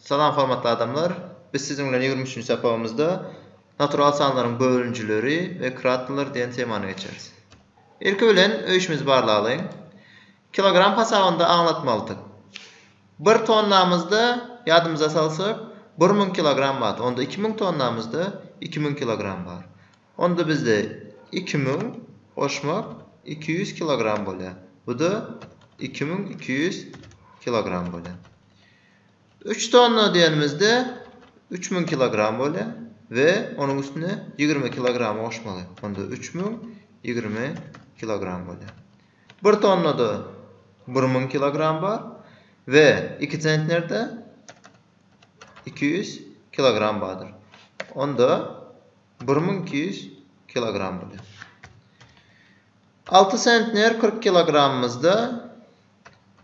Salam hormatly adamlar! Biz siziň bilen ýigrimi üçünji sapagymyzda Natural sanlaryň bölünjileri we kratlar diýen temany geçeris. Ilki bilen öýşümizi barlaglaýyn. Kilogram hasabynda aňlatmalydyk. Bir tonnamyzda, ýadymyza salsak, bir müň kilogram bar. Onda iki müň tonnamyzda iki müň kilogram bar. Onda bizde iki müň goşmak iki ýüz kilogram bolýar. Bu-da iki müň iki ýüz kilogram bolýar. Üç tonna diýenimizde üç müň kilogram bolýar we onuň üstüne ýigrimi kilogramy goşmaly. Onda üç müň ýigrimi kilogram bolýar. Bir tonnada bir müň kilogram bar we iki sentnerde iki ýüz kilogram bardyr. Onda bir müň iki ýüz kilogram bolýar. Alty sentner kyrk kilogramymyzda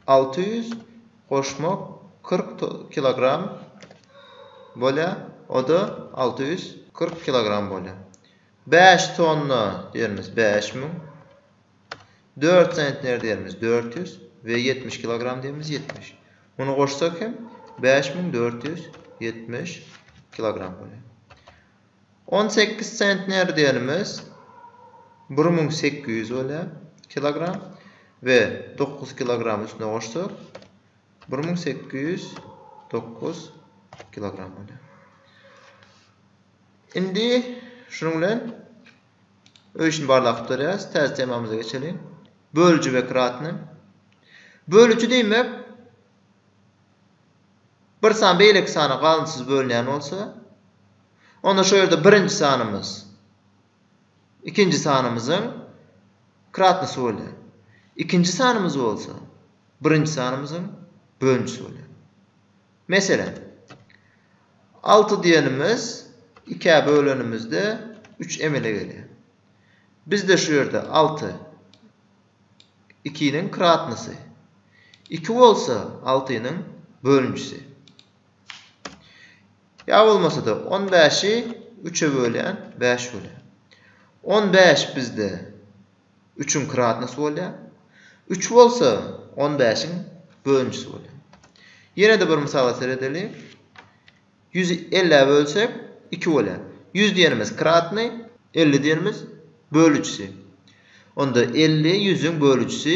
Alty ýüz goşma kyrk kilogram bolýar, o-da alty ýüz kyrk kilogram bolýar. Bäş tonna diýerimiz bäş müň, dört sentner diýerimiz dört ýüz we ýetmiş kilogram diýerimiz ýetmiş. Muny goşsak hem bäş müň dört ýüz ýetmiş kilogram bolýar. On sekiz sentner diýenimiz bir müň sekiz ýüz bolýar kilogram we dokuz kilogram üstüne goşsak bir müň sekiz ýüz dokuz kilogram bolýar. Indi şunuň bilen öý işini barlap gutarýarys. Täze temamyza geçeliň. Bölüji we kratny. Bölüji diýmek bir san beýleki sana galyndysyz bölünýän bolsa, onda şol ýerde birinji sanymyz ikinji sanymyzyň kratnosy bolýar. Ikinji sanymyz bolsa birinji sanymyzyň bölünişi bolýar. Meselem, alty diýenimiz ikä bölenimizde üç emele gelýär. Bizde şu ýerde alty ikiniň kratnosy. Iki bolsa altynyň bölünjisi. Ýa bolmasa-da on bäşi üçe bölýän bäş bolýar. On bäş bizde üçüň kratnosy bolýar. Üç bolsa on bäşiň bölünjisi bolýar. Ýene-de bir mysala seredeliň. Ýüzi ellä bölsek, iki bolýar. Ýüz diýenimiz kratny, elli diýenimiz bölüjisi. Onda elli ýüzüň bölüjisi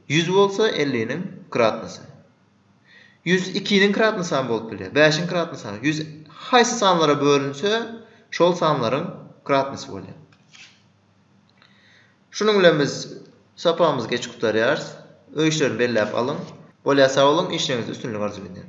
ýüz bolsa, elliniň kratnysy. Ýüz ikiniň kratnysy hem bolup bilýär, bäşiň kratnysy hem. Ýüz haýsy sanlara bölünse, şol sanlaryň kratnysy bolýar. Şunuň bilen biz sapagymyzy geçip gutarýarys. Öý işlerini belläp alyň. Bolýa sag boluň, işleriňizde üstünlik arzuw edýän.